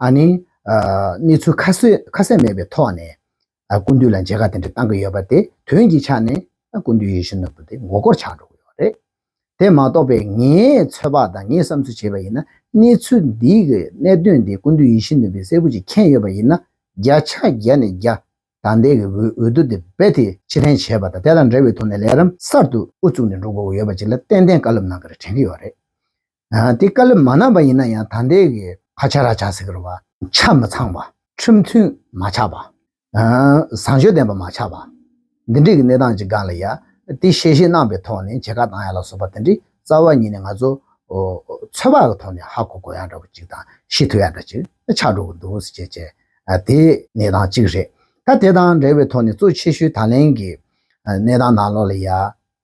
ཨ་ནི། གནས་ཚུལ་ཁ་གསལ་མེད་པའི་ཐོག་ནས། ཀུན་འདུས་ལ་མཇལ་ཁ་དེ་འདྲ་བཏང་གི་ཡོད་པ་དེ་དོན་གྱི་ཆ་ནས་ཀུན་འདུས་ཡེ་ཤུ་ནོར་བུ་དེ་མགོ་སྐོར་ཆགས་འགྲོ་གི་ཡོད་རེད། དེ་མ་གཏོགས་པའི་ངའི་ཚོད་དཔག་དང་ངས་བསམ་ཚུལ་བྱས་པ་ཡིན་ན་གནས་ཚུལ་འདིའི་གནད་དོན་དེ་ཀུན་འདུས་ཡིད་བཞིན་ནོར་བུས་གསལ་པོ་ཅིག་མཁྱེན་ཡོད་པ་ཡིན་ན་བརྒྱ་ཆ་བརྒྱ་ནས་བརྒྱ། དང་དེ་གི་འོས་བསྡུ་དེ་རྦད་དེ་ཕྱིར་འཐེན་བྱས་པ་དང་དེ་དང་འབྲེལ་བའི་ཐོག་ནས་ལས་རིམ་གསར་དུ་དབུ་བཙུགས་ནས་འགྲོ་དགོས་པ་ཡོད་པ་ཅིག་ལ་ཏན་ཏན་བཀའ་སློབ་གནང་གི་རེད་དྲན་གི་ཡོད་རེད། དེ་བཀའ་སློབ་མ་གནང་བ་ཡིན་ན་ཡང་ད་ལྟའི་གི་ཁ་ཆ་ར་ཆ་ཟེར་གི་བ། ཆ་མི་ཚང་བ། ཁྲིམས་མཐུན་མ་ཆགས་པ། བཟང་སྤྱོད་ལྡན་པ་མ་ཆགས་པ། འདི་འདྲིས་གི་གནས་སྟངས་ཅིག་ག་ལ་ཡ། དེ་ཤེས་ཤེས་གནང་བའི་ཐོག་ནས་བྱེད་ག་དང་ཡ་ལ་སོགས་པ་དེ་འདྲིས་རྩ་བ་ཉིད་ནས་ང་ཚོ་ཚོད་དཔག་གི་ཐོག་ནས་ཧ་གོ་གོ་ཡ་འདྲ་བ་ཅིག་དང་ཤེས་ཐུབ་ཡ་འདྲ་ཅིག་ཆགས་འགྲོ་གི་འདུག་བསུ་བྱས་བྱས་དེ་གནས་སྟངས་ཅིག་རེད། ད་དེ་དང་འབྲེལ་བའི་ཐོག་ནས་གཙོ་ཆེ་ཤོས་ད་ལན་གི་གནས་སྟངས་ནང་ལོགས་ལ་ཡ།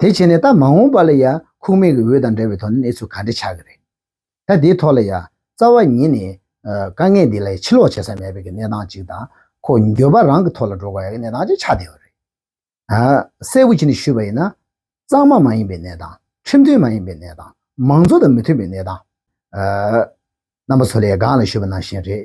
དེ་བྱས་ནས་ད་མ་འོངས་པ་ལ་ཡང་ཁུག་མེད་ཀྱི་འོད་དང་འདྲ་བའི་ཐོག་ནས་གནས་ཚུལ་ག་འདྲ་ཆགས་ཀྱི་རེད། ད་དེའི་ཐོག་ལ་ཡང་རྩ་བ་ཉིད་ནས་དཀའ་ངལ་འདི་ལ་ཡང་ཕྱི་ལོག་བྱེད་ས་མེད་པའི་གནས་སྟངས་ཅིག་དང་ཁོ་འགྱོད་པ་རང་གི་ཐོག་ལ་འགྲོ་དགོས་ཡག་གི་གནས་སྟངས་ཅིག་ཆགས་བསྡད་ཡོད་རེད། གསལ་བོ་བྱས་ནས་ཞུས་པ་ཡིན་ན། གཙང་མ་མ་ཡིན་པའི་གནས་སྟངས་ཁྲིམས་མཐུན་མ་ཡིན་པའི་གནས་སྟངས་མང་གཙོ་དང་མི་མཐུན་པའི་གནས་སྟངས། རྣམ་པ་ཚོ་ལས་སྒང་ལ་ཞུས་པ་ནང་བཞིན་རེད།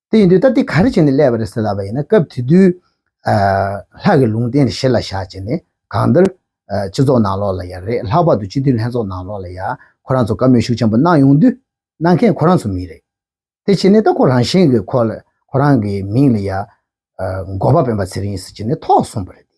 དེ་ཡིན་དུས་ད་འདི་ག་རེ་བྱས་ནས་སླེབས་པ་རེད་ཟེར་ལབ་པ་ཡིན་ན་སྐབས་དེ་དུས་ལྷག་གི་ལུང་བསྟན་རེ་བཞེས་ལ་བཞག་བྱས་ནས་གང་འདིར་སྤྱི་ཚོགས་ནང་ལོགས་ལ་ཡ་རེད་ལྷག་པར་དུ་སྤྱི་འཐུས་ལྷན་ཚོགས་ནང་ལོགས་ལ་ཡ་ཁོ་རང་ཚོ་བཀའ་མོས་ཤུགས་ཆེན་པོ་གནང་ཡོང་དུས་གནང་མཁན་ཁོ་རང་ཚོ་མིན་རེད་དེ་བྱས་ནས་ད་ཁོ་རང་བཞིན་གྱི་ཁོ་རང་གི་མིང་ལ་ཡ་འགོ་པ་སྤེན་པ་ཚེ་རིང་ཟེར་བྱས་ནས་ཐོག་གསུངས་པ་རེད་དེ།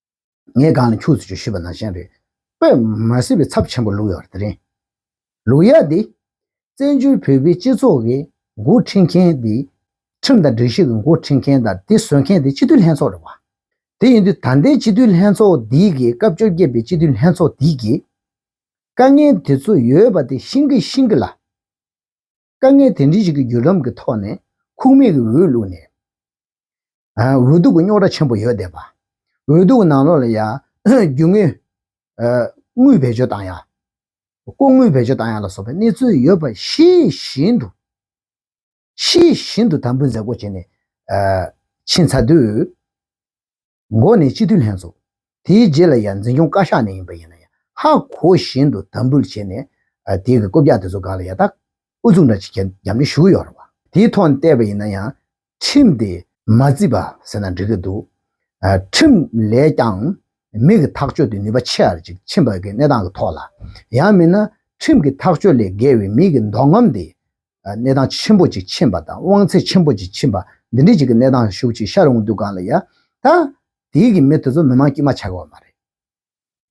ངའི་སྒང་ལ་ཁྱུག་ཚུལ་ཅུང་ཞིབ་པ་ནང་བཞིན་རེད། པོས་མ་ཟེར་བའི་ཚབ་ཆེན་པོ་ལུག་ཡག་དེ་རེད། ལུག་ཡག་འདི། བཙན་བྱོལ་བོད་པའི་སྤྱི་ཚོགས་ཀྱི་མགོ་འཁྲིད་མཁན་དེ། ཁྲིམས་དང་སྒྲིག་གཞི་གི་མགོ་འཁྲིད་མཁན་དང་དེ་བཟོས་མཁན་དེ་སྤྱི་འཐུས་ལྷན་ཚོགས་རེད་བ། དེ་ཡིན་དུས་ད་ལྟའི་སྤྱི་འཐུས་ལྷན་ཚོགས་འདི་གི་སྐབས་བཅོ་བརྒྱད་པའི་སྤྱི་འཐུས་ལྷན་ཚོགས་འདི་གི། དཀའ་ངལ་དེ་ཚོ་ཡོད་པ་དེ་ཤིང་གི་ཤིང་གི་ལ། དཀའ་ངལ་དེ་འདྲའི་ཞིག་གི་བརྒྱུད་ལམ་གྱི་ཐོག་ནས་ཁུངས་མེད་ཀྱི་འོས་བླུགས་ནས། འོས་ལྡུག་གི་རྙོག་དྲ་ཆེན་པོ་ཡོད་བསྡད་པ། འོས་ལྡུག་གི་ནང་ལོགས་ལ་ཡང་རྒྱུ་དངུལ་དངུལ་བེད་སྤྱོད་བཏང་ཡ། ལྐོག་དངུལ་བེད་སྤྱོད་བཏང་ཡ་ལ་སོགས་པའི་གནས་ཚུལ་ཡོད་པ་ཤེས་བཞིན་དུ། ཤེས་བཞིན་དུ་དམ་འབུལ་མཛད་སྒོ་བྱས་ནས་ཕྱིན་ཚར་དུས། མགོ་ནས་སྤྱི་འཐུས་ལྷན་ཚོགས། དེའི་རྗེས་ལ་ཡང་འཛིན་སྐྱོང་བཀའ་ཤག་ནས་ཡིན་པ་ཡིན་ན་ཡང་ཧ་གོ་བཞིན་དུ་དམ་འབུལ་བྱས་ནས། དེའི་གི་བསྐོ་བརྒྱག་དེ་ཚོ་འགའ་ལ་ཡ་ཐག་ཨུ་ཚུགས་འདྲ་བྱེད་མཁན་རྒྱབ་ནས་ཞུགས་ཡོད་རེད་བ། དེའི་ཐོག་ནས་བལྟས་པ་ཡིན་ན་ཡང་ཁྲིམས་དེ། མ་བརྩིས་པ་ཟེར་ན་འགྲིག་གི་འདུག། ཁྲིམས་ལས་ཀྱང་མི་གི་ཐག་གཅོད་དེ་ནུས་པ་ཆེ་རེ་ཅིག་ཕྱིན་པ་གི་གནས་སྟངས་ཀི་ཐོག་ལ། ཡང་མིན་ན་ཁྲིམས་ཀི་ཐག་གཅོད་ལས་བརྒལ་བའི་མི་གི་འདོགས་རྔམ་དེ། གནས་སྟངས་ཆེན་པོ་ཅིག་ཕྱིན་པ་དང་དབང་ཚད་ཆེན་པོ་ཅིག་ཕྱིན་པ་འདི་འདྲའི་ཅིག་གི་གནས་སྟངས་ཤུགས་ཅིག་ཤར་འོང་དུས་གང་ལ་ཡ། ད། དེའི་གི་མི་དེ་ཚོ་མི་མང་དཀྱིལ་མ་ཆགས་ཀྱི་བ་མ་རེད།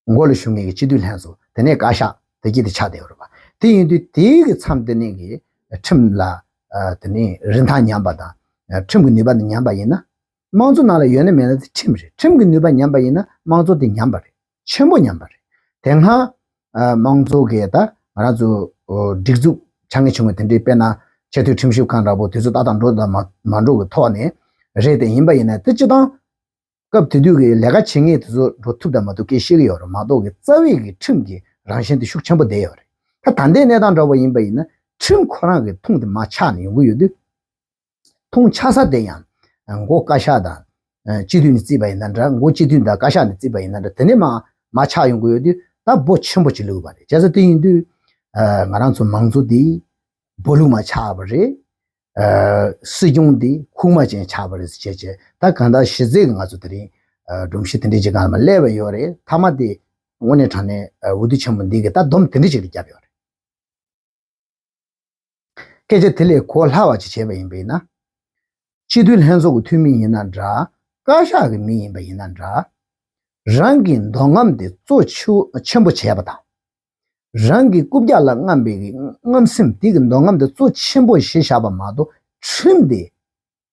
མགོ་ལ་ཞུགས་ངེས་ཀྱི་སྤྱི་འཐུས་ལྷན་ཚོ་དེ་ནས་བཀའ་ཤག་དེ་སྐྱིད་དེ་ཆགས་བསྡད་ཡོད་རེད་པ། དེ་ཡིན་དུས་དེའི་གི་མཚམས་དེ་ནས་གི་ཁྲིམས་ལ་དེ་ནས་རིན་ཐང་ཉམས་པ་དང། ཁྲིམས་གི་ནུས་པ་དེ་ཉམས་པ་ཡིན་ན། དམངས་གཙོ་ནང་ལ་ཡོད་ན་མེད་ན་དེ་ཁྲིམས་རེད་ཁྲིམས་གི་ནུས་པ་ཉམས་པ་ཡིན་ན་དམངས་གཙོ་དེ་ཉམས་པ་རེད། ཆེན་པོ་ཉམས་པ་རེད། དེ་སྔ། དམངས་གཙོ་གི་ད་ང་རང་ཚོ་སྒྲིག་འཛུགས་ཆགས་ངེས་བྱུང་བ་དེ་འདྲའི་དཔེར་ན། ཆེས་མཐོའི་ཁྲིམས་ཞིབ་ཁང་འདྲ་པོ་དེ་ཚོ་ད་ལྟ་འགྲོ་དང་མ་འགྲོ་གི་ཐོག་ནས་རེད་དེ་ཡིན་པ་ཡིན་ན་དེ་སྤྱི་དང། སྐབས་དེ་དུས་ཀྱི་ལས་ཀ་བྱེད་ངེས་དེ་ཚོ་འགྲོ་ཐུབ་དང་མ་ཐུབ་ཁྱེད་ཤེས་ཀྱི་ཡོད་རེད་མ་གཏོགས་ཀྱི་རྩ་བའི་གི་ཁྲིམས་ཀྱི་རང་བཞིན་དེ་ཤུགས་ཆེན་པོ་བསྡད་ཡོད་རེད། ད་ད་ལྟའི་གནས་སྟངས་འདྲ་པོ་ཡིན་པ་ཡིན་ན་ཁྲིམས་ཁོ་རང་གི་ཐུང་དེ་མ་ཆགས་ནས་ཡོང་གི་ཡོད་དུས། མཐོང་ཆ་ས་དེ་ཡང་མགོ་བཀའ་ཤག་དང་སྤྱི་འཐུས་ནས་བརྩིས་པ་ཡིན་ན་འདྲ་མགོ་སྤྱི་འཐུས་དང་བཀའ་ཤག་ནས་བརྩིས་པ་ཡིན་ན་འདྲ་དེ་ནས་མ་མ་ཆགས་ཡོང་གི་ཡོད་དུས་ད་འབོ་ཆེན་པོ་ཅིག་ལུས་པ་རེད་བྱས་ཙང་དེ་ཡིན་དུས་ང་རང་ཚོ་མང་གཙོ་འདི་འབོ་ལུག་མ་ཆགས་པ་རེད། སྲིད་སྐྱོང་འདི་ཁུག་མ་ཅན་ཆགས་པ་རེད་ཟེར་བྱས་བྱས་ད་གང་དག་གཞི་རྩའི་ང་ཚོ་དེ་རིང་སྒྲོམ་གཞི་དེ་འདྲའི་ཅིག་གང་ལ་མ་སླེབས་པ་ཡོད་རེད་མཐའ་མ་དེ་དངོས་གནས་དྲང་གནས་འོས་བསྡུ་ཆེན་པོ་འདི་གི་ད་སྡོམ་དེ་འདྲའི་ཅིག་རེ་བརྒྱབ་ཡོད་རེད། སྐད་ཆ་དེ་ལས་གོ་སླ་བ་ཅིག་བྱས་པ་ཡིན་པ་ཡིན་ན། སྤྱི་འཐུས་ལྷན་ཚོགས་ཀྱི་འཐུས་མི་ཡིན་ན་འདྲ། བཀའ་ཤག་གི་མི་ཡིན་པ་ཡིན་ན་འདྲ། རང་གི་མདོ་རྔམ་དེ་གཙོ་ཆེན་པོ་བྱས་པ་དང། རང་གི་རྐུབ་བཀྱག་ལ་རྔམ་པའི་རྔམ་སེམས་དེ་གི་མདོ་རྔམ་དེ་གཙོ་ཆེན་པོ་ཞེས་བཞག་པ་མ་གཏོགས་ཁྲིམས་དེ་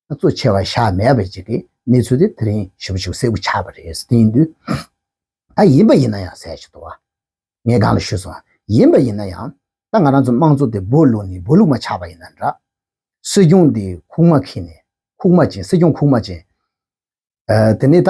གཙོ་ཆེ་བ་ཞག་མེད་པ་ཅིག་གི་གནས་ཚུལ་དེ་དེ་རིང་ཞུ་བ་ཞིག་གསལ་པོ་ཆགས་པ་རེད་ཟེར་གྱི་འདུག་ད་ཡིན་པ་ཡིན་ན་ཡང་གསལ་བྱེད་དོ། ངས་སྒང་ལ་ཞུས་སོང་ཡིན་པ་ཡིན་ན་ཡང་ད་ང་རང་ཚོ་དམངས་གཙོ་དེ་སྦོ་བླུགས་ནས་སྦོ་བླུགས་མ་ཆགས་པ་ཡིན་ན་འདྲ། སྲིད་སྐྱོང་དེ་ཁུག་མ་ཁེངས་ནས་ཁུག་མ་བྱིན་སྲིད་སྐྱོང་ཁུག་མ་བྱིན། དེ་ནས་ད།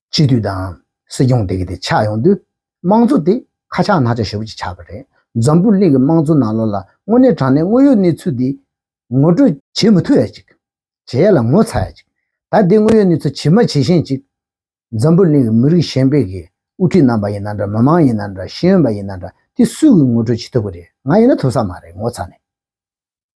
སྤྱི་འཐུས་དང་སྲིད་སྐྱོང་དེ་ག་དེ་ཆགས་ཡོང་དུས་དམངས་གཙོ་དེ་ཁ་ཆག་ནག་ཆག་ཞོར་གྱི་ཆགས་པ་རེད་འཛམ་བུ་གླིང་གི་དམངས་གཙོ་ནང་ལོགས་ལ་དངོས་གནས་དྲང་གནས་དངོས་ཡོད་གནས་ཚུལ་དེ་ངོ་སྤྲོད་བྱེད་མི་ཐུབ་ཡ་ཅིག་བྱེད་ཡ་ལ་ངོ་ཚ་ཡ་ཅིག་ད་དེ་དངོས་ཡོད་གནས་ཚུལ་ཇི་མ་ཇི་བཞིན་ཅིག་འཛམ་བུ་གླིང་གི་མི་རིགས་གཞན་པའི་གི་དབུ་ཁྲིད་རྣམ་པ་ཡིན་ན་འདྲ་མི་མང་ཡིན་ན་འདྲ་ཤེས་ཡོན་པ་ཡིན་ན་འདྲ་དེ་སུས་གི་ངོ་སྤྲོད་བྱེད་ཐུབ་གི་རེད་ང་ཡིན་ན་ཐུབ་ས་མ་རེད་ངོ་ཚ་ནས།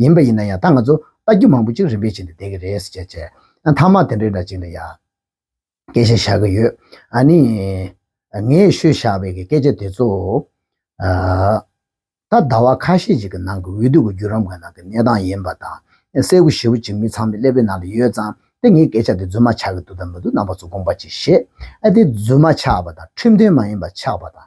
ཡིན་པ་ཡིན་ན་ཡང་ད་ང་ཚོ་རྟ་རྒྱུག་མང་པོ་ཅིག་རིམ་པས་བྱེད་དུ་བསྡད་ཀྱི་རེད་ཟེར་བྱས། མཐའ་མ་དེ་འདྲའི་འདྲ་ཅིག་ལ་ཡ། སྐད་ཆ་བཞག་གི་ཡོད། ཨ་ནི། ངས་ཤོད་བཞག་པའི་སྐད་ཆ་དེ་ཚོ། ད་ཟླ་བ་ཁ་ཤས་ཅིག་གི་ནང་གི་འོས་བསྡུ་གི་བརྒྱུད་རམ་ག་ནང་གི་གནས་སྟངས་ཡིན་པ་དང། སེར་བུ་ཞེ་བོ་ཅིག་མི་ཚང་མའི་ཀླད་པའི་ནང་དུ་ཡོད་ཙང་སྟེ་ངས་སྐད་ཆ་དེ་རྫུན་མ་ཆགས་ཀྱི་འདུག་དང་མི་འདུག་ནང་པ་ཚོ་དགོངས་པ་ཅིག་བཞེས། ཨ་དེ་རྫུན་མ་ཆགས་པ་དང་ཁྲིམས་མཐུན་མ་ཡིན་པ་ཆགས་པ་དང།